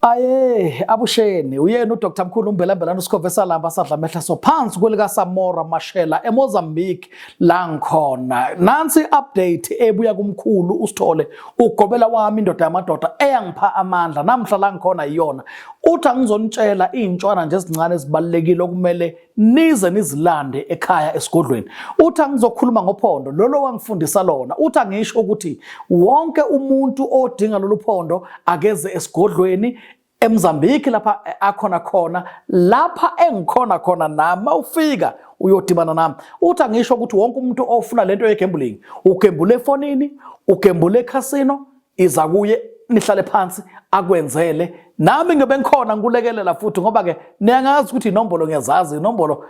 Aye abusheni uyena uDr Mkhulu uMbelambelana uSikhove salamba sadla mehla so phansi kwelika Samora Mashela eMozambique la ngikhona nansi update ebuya kumkhulu usithole ugobela wami indoda yamadoda eyangipha amandla namhla la ngikhona iyona uthi angizonitshela izintshwana nje ezincane ezibalekile okumele nize nizilande ekhaya esigodlweni uthi angizokhuluma ngophondo lolo wangifundisa lona uthi angisho ukuthi wonke umuntu odinga lolu phondo akeze esigodlweni eMozambique lapha akhona khona lapha engikhona khona nama ufika uyodibana nami uthi angisho ukuthi wonke umuntu ofuna lento yegambling ugembule efonini ugembule ecasino iza kuye nihlale phansi akwenzele nami ngibe ngikhona ngikulekelela futhi ngoba ke niyangazi ukuthi inombolo ngiyazazi inombolo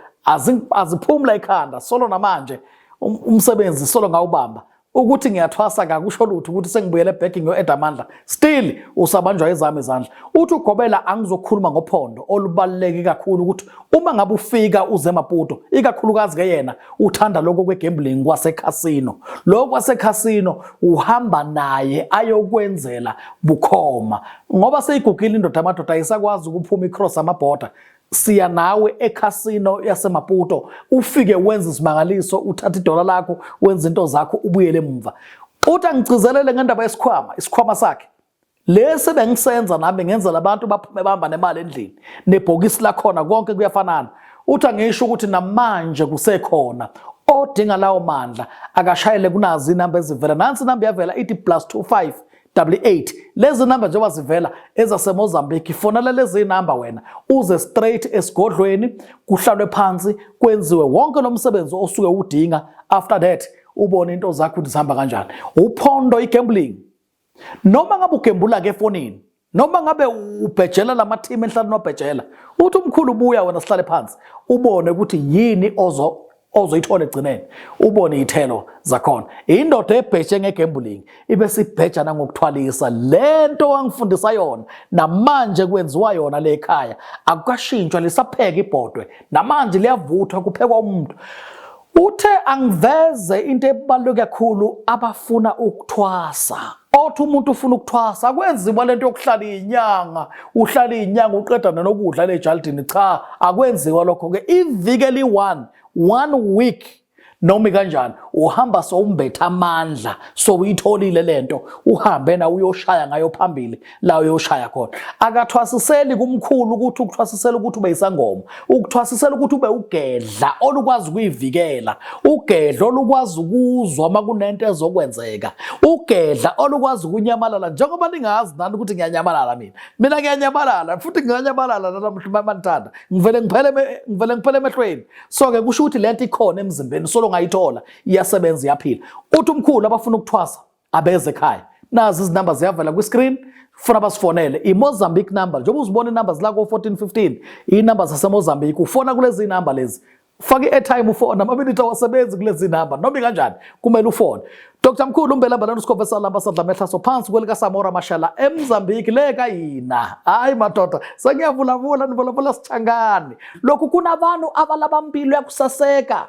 aziphumula ekhanda solo namanje um, umsebenzi solo ngawubamba ukuthi ngiyathwasa kakusho lutho ukuthi sengibuyele back ngiyo-eda amandla still usabanjwa ezami izandla uthi ugobela angizokhuluma ngophondo olubaluleke kakhulu ukuthi Uma ngabe ufika uze Maputo, ikakhulukazi ke yena uthanda lokho kwegambling kwasekhasino. Lokho kwasekhasino uhamba naye ayokwenzela bukhoma. Ngoba seyigugile indoda amadoda ayisakwazi ukuphuma icross amaborder. Siya nawe ekhasino yaseMaputo ufike wenza isimangaliso uthatha idola lakho wenza into zakho ubuyele emva. Uthi angigcizelele ngendaba yesikhwama, isikhwama sakhe. lesi bengisenza nami bengenzela abantu baphume bahamba nemali endlini nebhokisi lakhona konke kuyafanana uthi angisho ukuthi namanje kusekhona odinga lawo mandla akashayele kunazi inamba ezivela nansi inamba yavela ithi plus 25 88 lezi namba njengoba zivela ezasemozambique fonela lezi namba wena uze straight esigodlweni kuhlalwe phansi kwenziwe wonke lo msebenzi osuke udinga after that ubone into zakho ukuthi zihamba kanjani uphondo igambling noma ngabe ugembula ke efonini noma ngabe ubhejela lama team enhlalo nobhejela uthi umkhulu buya wena sihlale phansi ubone ukuthi yini ozo ozoyithola egcineni ubone ithelo zakhona indoda ebheshe ngegambling ibe sibhejana ngokuthwalisa lento wangifundisa yona namanje kwenziwa yona le ekhaya akukashintshwa lisapheka ibhodwe namanje liyavuthwa kuphekwa umuntu Uthe angiveze into ebaluleke kakhulu abafuna ukuthwasa. Othi umuntu ufuna ukuthwasa akwenziwa lento yokuhlala izinyanga, uhlala izinyanga uqeda nokudla lejalidini cha akwenziwa lokho ke iviki eli1 one week noma kanjani uhamba sowumbetha amandla sowuyitholile lento uhambe na uyoshaya ngayo phambili la uyoshaya khona akathwasiseli kumkhulu ukuthi ukuthwasisela ukuthi ube isangoma ukuthwasisela ukuthi ube ugedla olukwazi ukuyivikela ugedla olukwazi ukuzwa uma kunento ezokwenzeka ugedla olukwazi ukunyamalala njengoba ningazi nani ukuthi ngiyanyamalala mina mina ngiyanyamalala futhi nginganyamalala namhlanje manithanda ngivele ngiphele ngivele ngiphele emehlweni so ke kusho ukuthi lento ikhona emzimbeni solo ngayithola iyasebenza iyaphila uthi umkhulu abafuna ukuthwasa abeze ekhaya nazi izinamba ziyavela kwi-screen funa basifonele imozambique number njengoba uzibona inumber zila ko-1415 iyinumber zasemozambique ufona kulezi namba lezi faka i-airtime ufona amaminithi awasebenzi kulezi namba noma ikanjani kumele ufone dr mkhulu umbelambelana usikhove salamba sadlamehlaso phansi kwelikasamora mashala emzambiki le kayina hayi madoda sengiyavulavula nivulavula sithangani lokhu kunabantu abalaba mpilo yakusaseka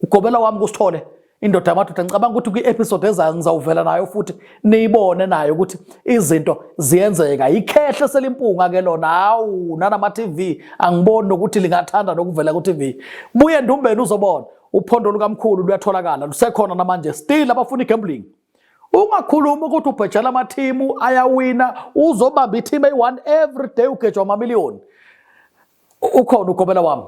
Ugobela wami kusithole indoda yamadoda ngicabanga ukuthi kwi-episode ezayo ngizawuvela nayo futhi niyibone nayo ukuthi izinto ziyenzeka yikhehle selimpunga-ke lona hawu nanama-tv angiboni nokuthi lingathanda nokuvela ku-tv buye ndumbeni uzobona uphondo lukamkhulu luyatholakala lusekhona namanje still abafuna i-gambling ungakhulumi ukuthi ubhejela amathimu ayawina uzobamba ithimu eyi-one every day ugejwa amamiliyoni ukhona ugobela wami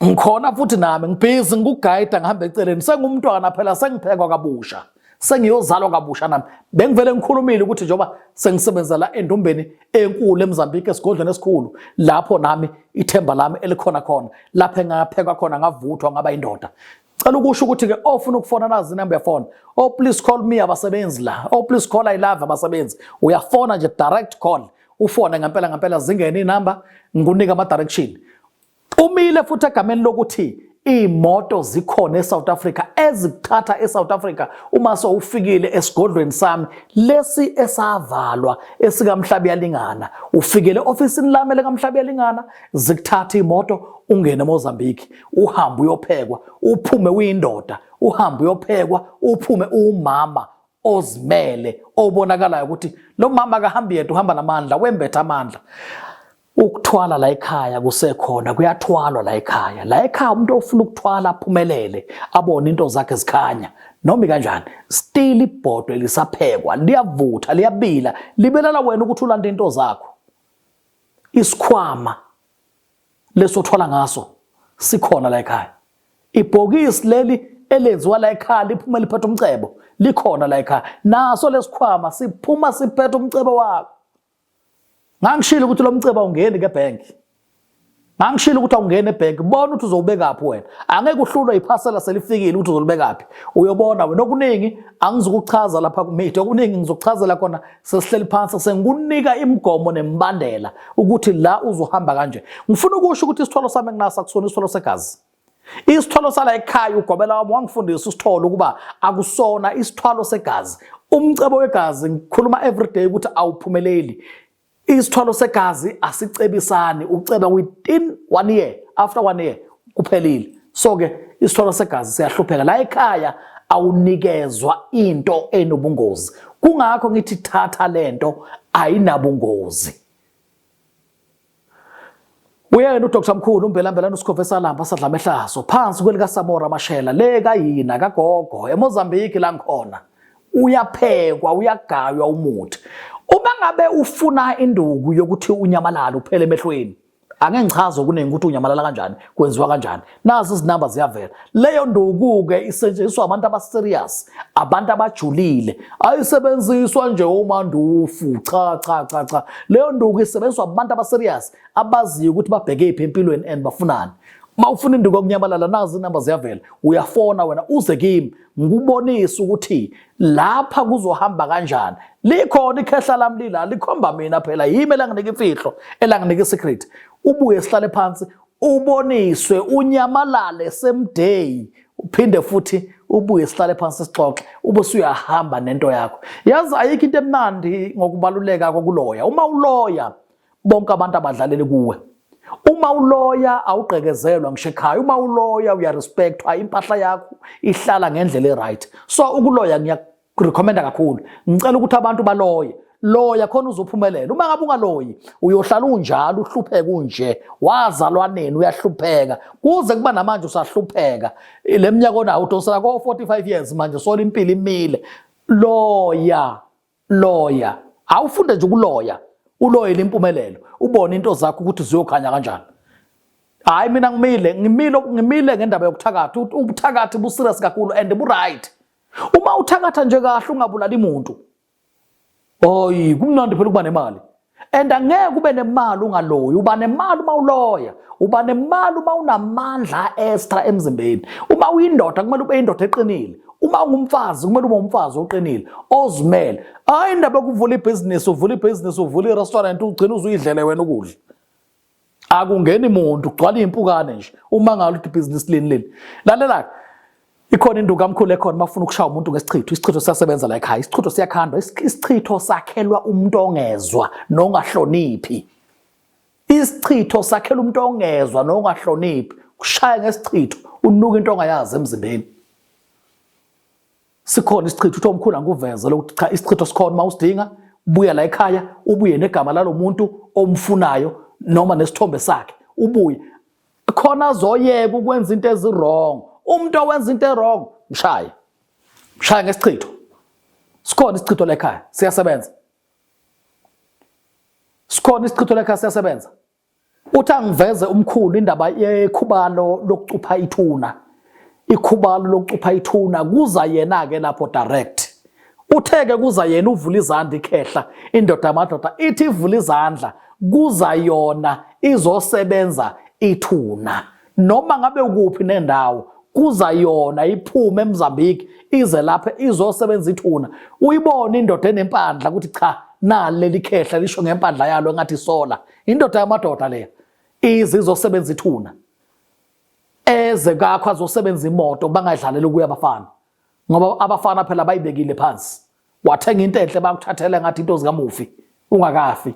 ngikhona futhi nami ngibhizi ngikugayida ngihamba eceleni sengumntwana phela sengiphekwa kabusha sengiyozalwa kabusha nami bengivele ngikhulumile ukuthi njengoba sengisebenzela endumbeni enkulu eMozambique esigodlweni esikhulu lapho nami ithemba lami elikhona khona lapho engaphekwa khona ngavuthwa ngaba indoda Cela ukusho ukuthi ke ofuna oh, ukufona nazi number yafona. Oh please call me abasebenzi la. Oh please call I love abasebenzi. Uyafona nje direct call. Ufone ngempela ngempela zingene inamba ngikunika ama direction. Umile futhi egameni lokuthi imoto zikhona eSouth Africa ezikuthatha eSouth Africa uma sowufikile esigodlweni sami lesi esavalwa esikamhlabi yalingana ufikele ofisini lami lekaMhlabi yalingana zikuthatha imoto ungene eMozambique uhambe uyophekwa uphume uyindoda uhambe uyophekwa uphume uwumama ozimele obonakalayo ukuthi lo mama akahambi yedwa uhamba namandla wembetha amandla ukuthwala la ekhaya kusekhona kuyathwalwa la ekhaya la ekhaya umuntu ofuna ukuthwala aphumelele abone into zakhe zikhanya noma kanjani still ibhodwe lisaphekwa liyavutha liyabila libelala wena ukuthi ulanda into zakho isikhwama lesi othwala ngaso sikhona la ekhaya ibhokisi leli elenziwa la ekhaya liphuma liphethe umcebo likhona la ekhaya naso lesikhwama siphuma siphethe umcebo wakho ngangishilo ukuthi lo mcebo awungeni ke bank ngangishilo ukuthi awungeni ebank bona ukuthi uzowubekaphi wena angeke uhlulwe iphasela selifikile ukuthi uzolibekaphi uyobona wena okuningi angizukuchaza lapha kumidi okuningi ngizokuchazela khona sesihleli phansi sengikunika imigomo nemibandela ukuthi la uzohamba kanje ngifuna ukusho ukuthi isithwalo sami enginasa kusona isithwalo segazi isithwalo sala ekhaya ugobela wami wangifundisa isithwalo ukuba akusona isithwalo segazi umcebo wegazi ngikhuluma everyday ukuthi awuphumeleli isithwalo segazi asicebisani uceba within one year after one year kuphelile so ke isithwalo segazi siyahlupheka la ekhaya awunikezwa into enobungozi kungakho ngithi thatha lento ayinabungozi uyena uDr Mkhulu uMbelambelana uSikhove Salamba sadlama ehlaso phansi kwelika Samora Mashela le kayina kagogo eMozambique la ngikhona uyaphekwa uyagaywa umuthi uma ngabe ufuna induku yokuthi unyamalala uphele emehlweni ake ngichaze okuningi ukuthi unyamalala kanjani kwenziwa kanjani nazi izinamba ziyavela leyo nduku-ke isetshenziswa abantu abaserious abantu abajulile ayisebenziswa nje umandufu cha cha cha cha leyo nduku isebenziswa abantu abaserious abaziyo ukuthi babheke iphi empilweni and bafunani uma ufuna induku yokunyamalala nazi inamba ziyavela uyafona wena uze kimi ngikubonise ukuthi lapha kuzohamba kanjani likhona ikhehla lami lila likhomba mina phela yimi elanginika imfihlo elanginika isecret ubuye sihlale phansi uboniswe unyamalale same day uphinde futhi ubuye sihlale phansi sixoxe ube usuyahamba nento yakho yazi ayikho into emnandi ngokubaluleka kokuloya uma uloya bonke abantu abadlalele kuwe uma uloya awugqekezelwa ngisho ekhaya uma uloya uyarespectwa impahla yakho ihlala ngendlela e-right so ukuloya ngiyakurekhomenda kakhulu ngicela ukuthi abantu baloye loya khona uzophumelela uma ngabe ungaloyi uyohlala unjalo uhlupheke unje wazalwa nini uyahlupheka kuze kuba namanje usahlupheka le minyaka onawo udonsela ko-45 years manje sola impilo imile loya loya awufunde nje ukuloya uloyele impumelelo ubone into zakho ukuthi ziyokhanya kanjani hayi mina ngimile ngimile ngimile ngendaba yokuthakatha ubuthakathi buserious kakhulu and bu-right uma uthakatha nje kahle ungabulali muntu oyi kumnandi phela ukuba nemali and angeke ube nemali ungaloyi uba nemali uma uloya uba nemali uma unamandla extra emzimbeni uma uyindoda kumele ube indoda eqinile uma ungumfazi kumele ube umfazi oqinile ozimele hayi indaba yokuvula ibhizinisi uvula ibhizinisi uvula irestaurant ugcina uzuyidlele wena ukudla akungeni muntu kugcwala impukane nje uma ngalo ukuthi ibhizinisi lini leli lalela ikhona induku kamkhulu ekhona mafuna ukushaya umuntu ngesichitho isichitho siyasebenza la ekhaya isichitho siyakhandwa isichitho sakhelwa umuntu ongezwa nongahloniphi isichitho sakhela umuntu ongezwa nongahloniphi kushaya ngesichitho unuka into ongayazi emzimbeni Sikhona isichitho uthe umkhulu angikuveze lokuthi cha isichitho sikhona uma usidinga buya la ekhaya ubuye negama lalomuntu omfunayo noma nesithombe sakhe ubuye khona azoyeka ukwenza into ezirong umuntu owenza into erong mshaye mshaye ngesichitho sikhona isichitho lekhaya siyasebenza sikhona isichitho lekhaya siyasebenza Uthi angiveze umkhulu indaba yekhubalo lokucupha ithuna. Ikhubalo lokucupha ithuna kuza yena ke lapho direct. Uthe ke kuza yena uvula izandla ikhehla indoda yamadoda ithi ivula izandla kuza yona izosebenza ithuna. noma ngabe ukuphi nendawo kuza yona iphume eMozambique ize lapha izosebenza ithuna uyibona indoda enempandla ukuthi cha nali leli khehla lisho ngempandla yalo engathi isola indoda yamadoda leya ize izosebenza ithuna eze kakho azosebenza imoto bangadlaleli ukuya abafana ngoba abafana phela bayibekile phansi wathenga into enhle bakuthathele ngathi into zikamufi ungakafi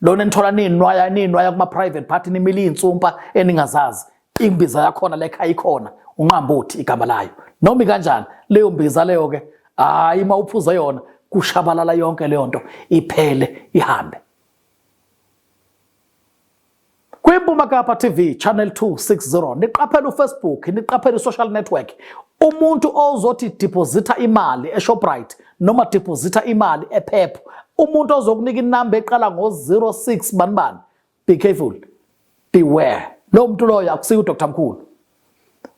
lona enithola ninwaya ninwaya kuma private party nimile insumpa eningazazi imbiza yakhona lekhaya ikhona unqambothi igama layo noma kanjani leyo mbiza leyo ke hayi uma uphuza yona kushabalala yonke leyo nto iphele ihambe KwiMpuma Kapa TV channel 260 niqaphela uFacebook niqaphela isocial network umuntu ozothi deposita imali eShoprite noma deposita imali ePep umuntu ozokunika inamba eqala ngo06 banibani be careful beware lo muntu loyo akusiyo uDr Mkhulu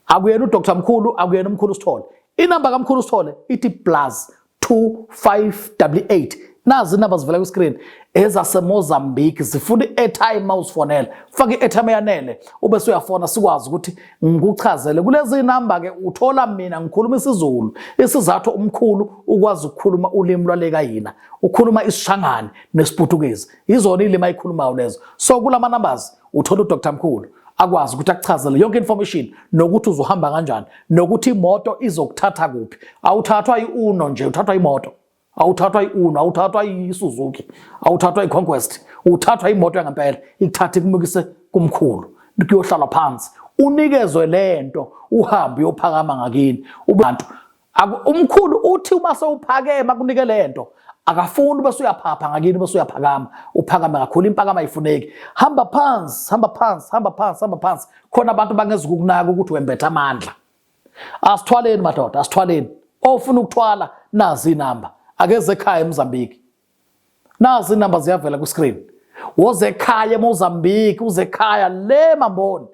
akuyena uDr Mkhulu akuyena umkhulu Sithole inamba kaMkhulu Sithole ithi plus 2588 nazi inamba zivela ku screen ezase Mozambique zifuna i-airtime mawusifonela faka i-airtime yanele ube suyafona sikwazi ukuthi ngikuchazele kulezi namba ke uthola mina ngikhuluma isiZulu isizathu umkhulu ukwazi ukukhuluma ulimi lwaleka yina ukhuluma isishangane nesiputukezi izona ilimi ayikhulumayo lezo so kulama numbers Uthola uDr Mkhulu akwazi ukuthi akuchazele yonke information nokuthi uzohamba kanjani nokuthi imoto izokuthatha kuphi awuthathwa iuno nje uthathwa imoto awuthathwa iuno awuthathwa isuzuki awuthathwa iconquest uthathwa imoto yangempela ikuthatha ikumukise kumkhulu kuyohlala phansi unikezwe lento uhambe uyophakama ngakini ubantu Umkhulu uthi uma sewuphakeme akunike le nto akafuni bese uyaphapha ngakini bese uyaphakama uphakame kakhulu impakama ayifuneki hamba phansi hamba phansi hamba phansi hamba phansi khona abantu bangeza ukukunaka ukuthi wembetha amandla asithwaleni madoda asithwaleni ofuna ukuthwala nazi inamba akeze ekhaya eMozambique nazi inamba ziyavela ku screen woze ekhaya eMozambique uze ekhaya le mamboni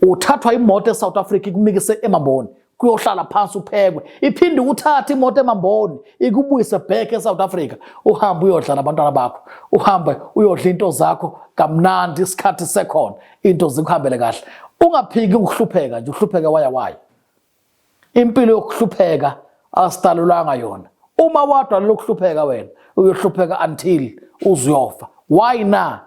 uthathwa imoto eSouth Africa ikumikise emamboni kuyohlala phansi uphekwe iphinde ukuthatha imoto emamboni ikubuyise back eSouth Africa uhambe uyodla nabantwana bakho uhambe uyodla into zakho kamnandi isikhathi sekhona into zikuhambele kahle ungaphiki ukuhlupheka nje uhlupheke waya waya impilo yokuhlupheka asidalulanga yona uma wadwa lokuhlupheka wena uyohlupheka until uzofa why na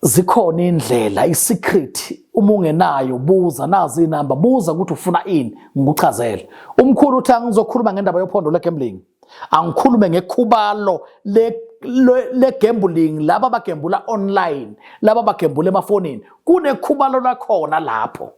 zikhona indlela isecret uma ungenayo buza nazi inamba buza ukuthi ufuna ini ngikuchazele umkhulu uthi angizokhuluma ngendaba yophondo legambling angikhulume ngekhubalo le le gambling laba bagembula online laba bagembula emafonini kunekhubalo lakhona lapho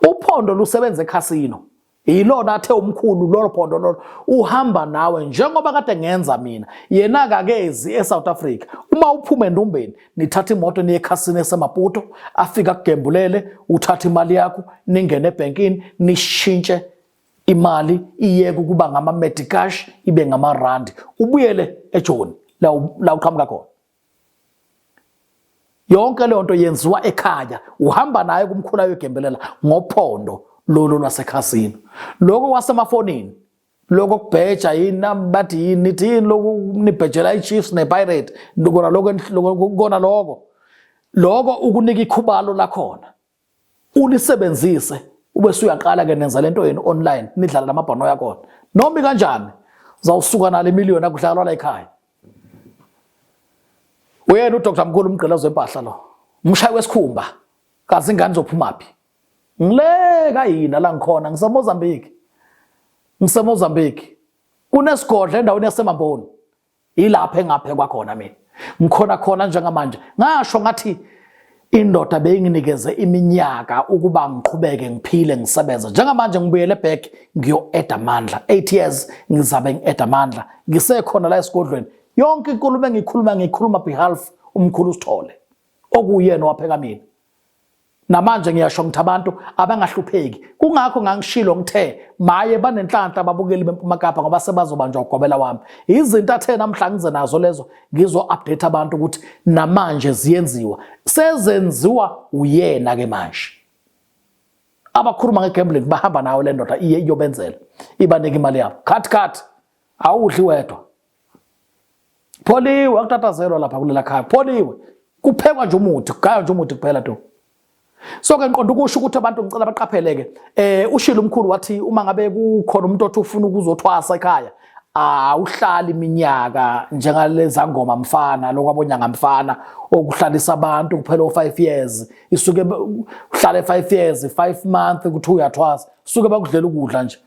uphondo lusebenza ekhasino yilona athe umkhulu lolo phondo lolo uhamba nawe njengoba kade ngenza mina yena akakezi eSouth Africa uma uphume endumbeni nithatha imoto niye ekhasini esemaputo afika kugembulele uthatha imali yakho ningene ebankini nishintshe imali iyeke ukuba ngama medicash ibe ngama rand ubuyele ejoni la uqhamuka khona yonke leyo nto yenziwa ekhaya uhamba naye kumkhula yogembelela ngophondo lolo lwasekhasini lokho kwasemafonini lokho kubheja yini nami bathi yini nithi yini lokhu nibhejela i-chiefs ne-pirate kona lokho kona lokho lokho ukunika ikhubalo lakhona ulisebenzise ube suyaqala ke nenza lento yenu online nidlala namabhono yakona noma kanjani zawusuka nale million akudlalwa la ekhaya uyena uDr Mkhulu umgqila zempahla lo umshayi wesikhumba kazi ingane zophuma phi ngile kayina la ngikhona ngiseMozambique ngiseMozambique kunesigodla endaweni yaseMamboni yilapho engaphekwa khona mina ngikhona khona njengamanje ngasho ngathi indoda beyinginikeze iminyaka ukuba ngiqhubeke ngiphile ngisebenze njengamanje ngibuyele back ngiyo-eda amandla 8 years ngizabe ngi-eda amandla ngisekhona la esigodlweni yonke inkulumo engiyikhuluma ngiyikhuluma behalf umkhulu usithole okuyena owapheka mina Namanje ngiyasho ngithi abantu abangahlupheki. Kungakho ngangishilo ngithe maye banenhlanhla ababukeli beMpuma Kapa ngoba sebazobanjwa ugobela wami. Izinto athe namhla ngize nazo lezo ngizo update abantu ukuthi namanje ziyenziwa. Sezenziwa uyena ke manje. Abakhuluma ngegambling bahamba nawo le ndoda iye iyobenzela. Ibanike imali yabo. Cut cut. Awudli wedwa. Pholiwe akutatazelwa lapha kulela khaya. Pholiwe. Kuphekwa nje umuthi, kugaywa nje umuthi kuphela to. So ke ngiqonda ukusho ukuthi abantu ngicela baqapheleke. Eh ushilo umkhulu wathi uma ngabe kukhona umuntu othi ufuna ukuzothwasa ekhaya, awuhlali iminyaka njengaleza ngoma mfana lokwabonyanga mfana okuhlalisa abantu kuphela o5 years isuke uhlale 5 years 5 months ukuthi uyathwasa suke bakudlela ukudla nje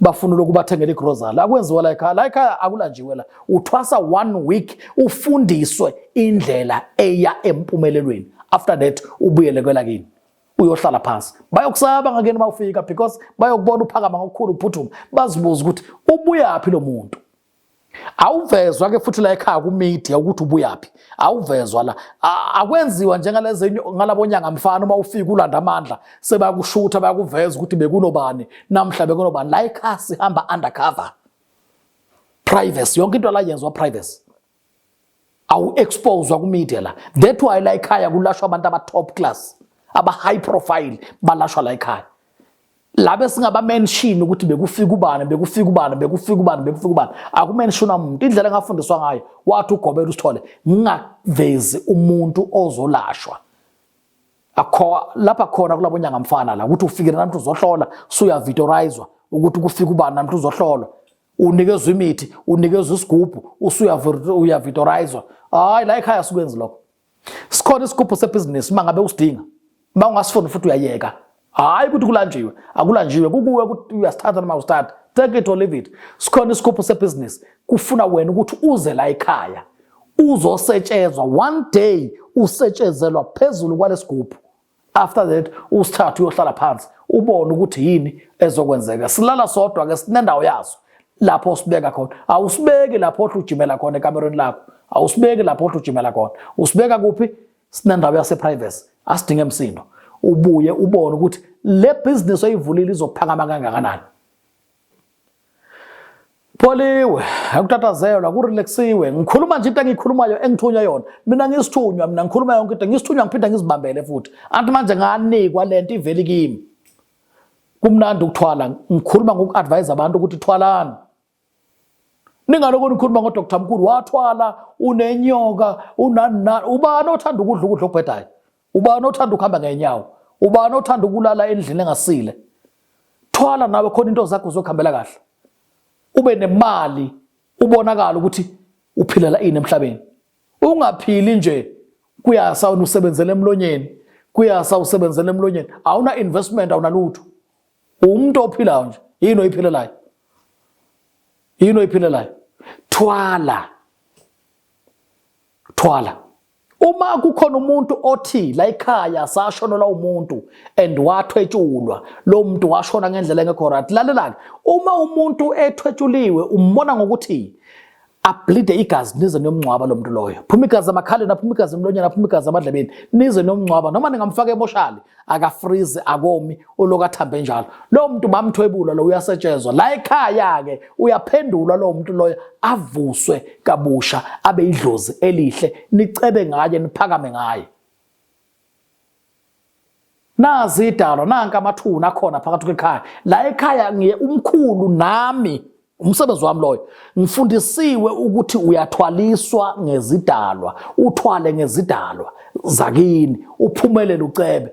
bafuna lokhu bathengele igrozali akwenziwa la ekhaya la ekhaya akulanjiwe la uthwasa one week ufundiswe indlela eya empumelelweni after that ubuyele kwelakini uyohlala phansi bayokusaba ngakeni uma ufika because bayokubona uphakama ngokukhulu uphuthuma bazibuza ukuthi ubuyaphi lo muntu awuvezwa ke futhi la ekhaya ku media ukuthi ubuyaphi awuvezwa la akwenziwa njengalezi ngalabonyanga mfana uma ufika ulanda amandla sebakushutha bayakuveza ukuthi bekunobani namhla bekunobani la ekhaya sihamba undercover privacy yonke into la yenzwa privacy awu-exposwa kumedia la that why la ekhaya kulashwa abantu aba-top class aba-high profile balashwa la ekhaya labe singabamenshini ukuthi bekufika ubani bekufika ubani bekufika ubani bekufika ubani akumenshini umuntu indlela engafundiswa ngayo wathi ugobela usithole ngingavezi umuntu ozolashwa akho lapha khona kulabo nyanga mfana la ukuthi ufikile namntu uzohlola suya videorizwa ukuthi kufika ubani namntu uzohlolwa unikezwa imithi unikezwa isigubhu usuyavitorizwa hayi la ekhaya sikwenzi lokho sikhona isigubhu sebhizinisi uma ngabe usidinga uma ungasifuni futhi uyayeka hayi ukuthi kulanjiwe akulanjiwe kukuwe ukuthi uyasithatha noma usithatha take it or leave it sikhona isigubhu sebhizinisi kufuna wena ukuthi uze la ekhaya uzosetshezwa one day usetshezelwa phezulu kwalesigubhu after that usithathu uyohlala phansi ubone ukuthi yini ezokwenzeka silala sodwa ke sinendawo yaso lapho sibeka khona awusibeki lapho othi ujimela khona ekamerweni lakho awusibeki lapho othi ujimela khona usibeka kuphi sinendawo yase privacy asidinge emsindo ubuye ubone ukuthi le business oyivulile izophakama kangakanani Pholiwe, akutatazelwa, kurelaxiwe. Ngikhuluma nje into engiyikhulumayo engithunywe yona. Mina ngisithunywa, mina ngikhuluma yonke into. Ngisithunywa ngiphinde ngizibambele futhi. Anti manje nganikwa lento iveli kimi. Kumnandi ukuthwala. Ngikhuluma ngokuadvise abantu ukuthi thwalani. Ningaloko nikhuluma ngo Dr. Mkulu wathwala unenyoka unanina ubani othanda ukudla ukudla okubhedayo. ubani othanda ukuhamba ngenyawo ubani othanda ukulala endlini engasile thwala nawe khona into zakho zokuhambela kahle ube nemali ubonakala ukuthi uphilela ini emhlabeni ungaphili nje kuyasa usebenzele emlonyeni kuyasa usebenzele emlonyeni awuna investment awunalutho umuntu ophilayo nje yini oyiphilelayo yini oyiphilelayo thwala Thwala. Uma kukhona umuntu othi la ekhaya sashonelwa umuntu and wathwetshulwa lo muntu washona ngendlela engekho right lalelani uma umuntu ethwetshuliwe umbona ngokuthi ablide igazi nize nomngcwaba lo muntu loyo phuma igazi amakhaleni aphuma igazi emlonyeni aphuma igazi amadlebeni nize nomngcwaba noma ningamfaka emoshali akafrizi akomi uloku athambe njalo lowo muntu bamthwebula lo uyasetshenzwa la ekhaya-ke uyaphendulwa lowo muntu loyo avuswe kabusha abe idlozi elihle nicebe ngaye niphakame ngaye nazi idalo nanka amathuna akhona phakathi kwekhaya la ekhaya ngiye umkhulu nami umsebenzi wami loyo ngifundisiwe ukuthi uyathwaliswa ngezidalwa uthwale ngezidalwa zakini uphumelele ucebe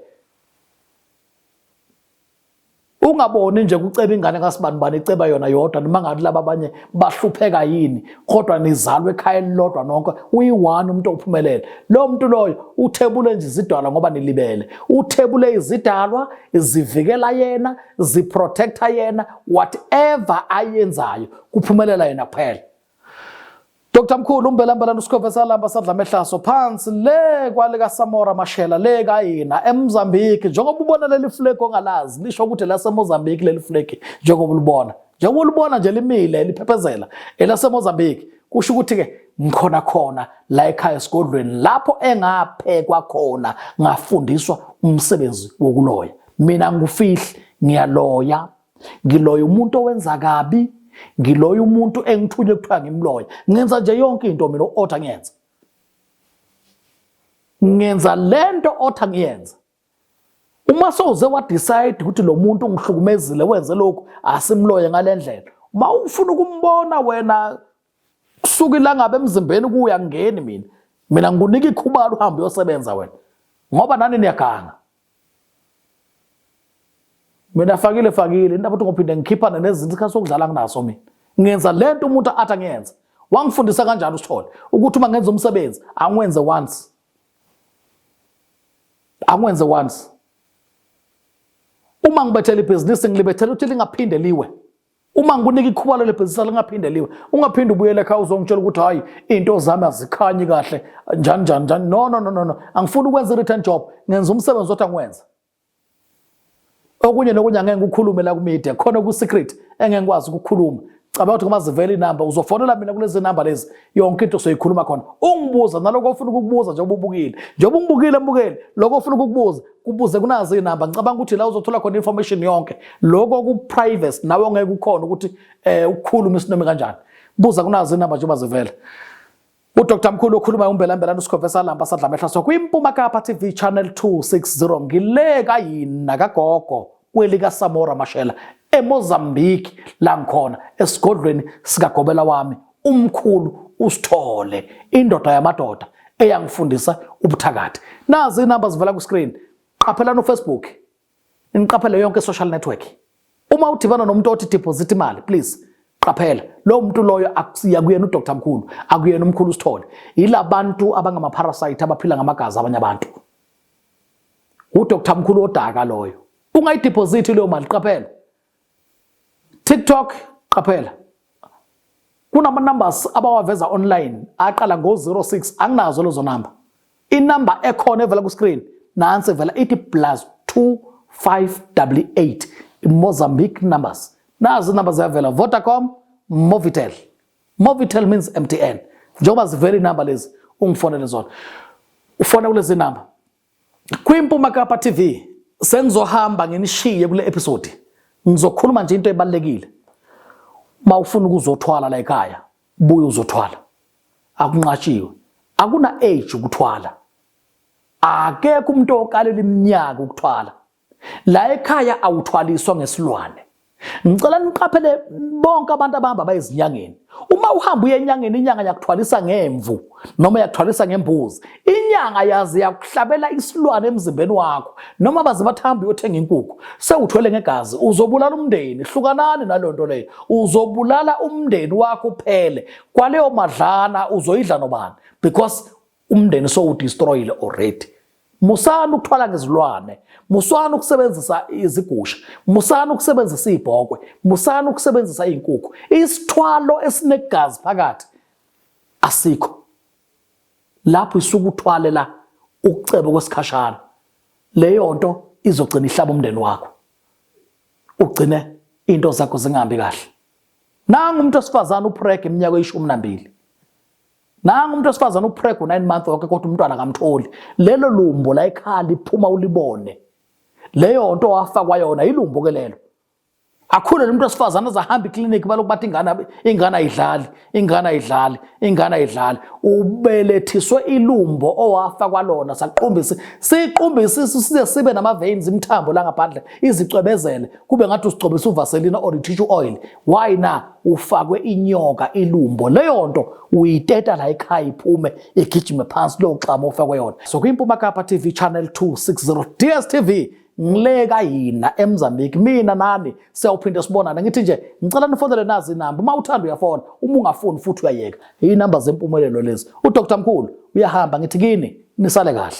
ungaboni nje kuceba ingane kasibani bani iceba yona yodwa noma ngathi laba abanye bahlupheka yini kodwa nizalwe ekhaya elilodwa nonke uyi-one umuntu ophumelele lo muntu loyo uthebule nje izidalwa ngoba nilibele uthebule izidalwa zivikela yena ziprotecta yena whatever ayenzayo kuphumelela yena kuphela Dr Mkhulu umbelambela uSikhova salamba sadla mehlaso phansi le kwale kaSamora Mashela le kayina eMozambique njengoba ubona leli flag ongalazi lisho ukuthi laseMozambique leli flag njengoba ulibona njengoba ulibona nje limile liphephezela elaseMozambique kusho ukuthi ke ngikhona khona la ekhaya esigodlweni lapho engaphekwa khona ngafundiswa umsebenzi wokuloya mina ngufihli ngiyaloya ngiloya umuntu owenza kabi ngiloya umuntu engithunywe kuthiwa ngimloya ngenza nje yonke into mina u-otha ngiyenza ngenza le nto otha ngiyenza uma sowuze wadecide ukuthi lo muntu ungihlukumezile wenze lokhu asimloye ngale ndlela uma ufuna ukumbona wena kusuka ilangabe emzimbeni kuya ngeni mina mina ngikunika ikhubalo uhambe uyosebenza wena ngoba nani niyaganga mina fakile fakile indaba ukuthi ngophinde ngikhiphane nezinto isikhathi sokudlala nginaso mina ngenza le nto umuntu athi angiyenze wangifundisa kanjani usithole ukuthi uma ngenza umsebenzi angiwenze once angiwenze once uma ngibethela ibhizinisi ngilibethela ukuthi lingaphinde liwe Uma ngikunika ikhuba leli bhizinisi lingaphinde liwe, ungaphinde ubuyele ekhaya uzongitshela ukuthi hhayi iy'nto zami azikhanyi kahle njani njani njani. No, no, no, no, no. Angifuni ukwenza i-return job, ngenza umsebenzi othi angiwenza. Okunye nokunye angeke ngikukhulume la kumedia, khona ku-secret engeke ngikwazi ukukhuluma. Cabanga ukuthi uma zivela inamba uzofonela mina kulezi namba lezi yonke into soyikhuluma khona. Ungibuza naloko ofuna ukukubuza njengoba ubukile. Njengoba ungibukile mbukeli, lokho ofuna ukukubuza kubuze kunazo izinamba ngicabanga ukuthi la uzothola khona information yonke lokho ku privacy nawe ngeke ukhona ukuthi eh ukukhuluma isinome kanjani buza kunazo izinamba njengoba zivela uDr Mkhulu okhuluma uMbelambelana uSikhofesa lamba sadla amehla so kwiMpuma Kapa TV channel 260 ngileka yini nakagogo kwelikaSamora Mashela eMozambique la ngikhona esigodlweni sikagobela wami umkhulu usithole indoda yamadoda eyangifundisa ubuthakathi nazi inamba zivela ku-screen qaphelani ufacebook niqaphele yonke social network uma udibana nomuntu othi deposit imali please qaphela lowo muntu loyo akusiya kuyena udr mkhulu akuyena umkhulu usithole yila bantu abangamaparasite abaphila ngamagazi abanye abantu udr mkhulu odaka loyo ungayidiphosithi leyo mali qaphela tiktok qaphela kunama-numbers abawaveza online aqala ngo-06 anginazo lezo number inumber ekhona evela ku-screen nansi evela ithi plus 2588 mozambique numbers nazi inumber ziyavela vodacom movitel Movitel means MTN. Njengoba zivela inamba lezi ungifonele zona. Ufona kulezi namba. KwiMpuma Kapa TV sengizohamba nginishiye kule episode. Ngizokhuluma nje into ebalekile. Mawufuna ukuzothwala la ekhaya, buya uzothwala. Akunqashiwe. Akuna age ukuthwala. Akekho umuntu okalela iminyaka ukuthwala. La ekhaya awuthwaliswa ngesilwane. Ngicela niqaphele bonke abantu abahamba bayezinyangeni. Uma uhamba uye enyangeni inyanga yakuthwalisa ngemvu noma yakuthwalisa ngembuzi. Inyanga yazi yakuhlabela isilwane emzimbeni wakho noma baze bathambe uyothenga inkukhu sewuthwele ngegazi uzobulala umndeni hlukanani nalonto leyo uzobulala umndeni wakho uphele kwaleyo madlana uzoyidla nobani because umndeni sowudestroyile already musani ukuthwala ngezilwane musani ukusebenzisa izigusha musani ukusebenzisa ibhokwe musani ukusebenzisa izinkukhu isithwalo esinegazi phakathi asikho lapho isuku uthwalela ukucebo kwesikhashana leyo nto izogcina ihlaba umndeni wakho ugcine into zakho zingahambi kahle nangu umuntu osifazana upreg iminyaka eyishumi nambili Nangu umuntu wesifazane upreg u-nine month wonke kodwa umntwana kamtholi. Lelo lumbo la ekhaya liphuma ulibone. Leyo nto wafakwa yona yilumbo ke lelo. Akhule lo muntu wesifazane azahamba iklinikhi balokhu bathi ingane ingane ayidlali, ingane ayidlali, ingane ayidlali. Ubelethiswe ilumbo owafakwa lona saqumbisi. Siqumbisi size sibe nama veins imthambo la ngaphandle izicwebezele kube ngathi usigcobisa uvaselina or i-tissue oil. why na ufakwe inyoka ilumbo leyo nto uyiteta la ekhaya iphume igijime phansi lo xama ofakwe yona so kwimpuma kapa tv channel 260 dstv ngileka yina emzambiki mina nani siyawuphinde sibonane ngithi nje ngicela nifonele nazi inamba uma uthanda uyafona uma ungafuni futhi uyayeka iyinamba zempumelelo lezi udr mkhulu uyahamba ngithi kini nisale kahle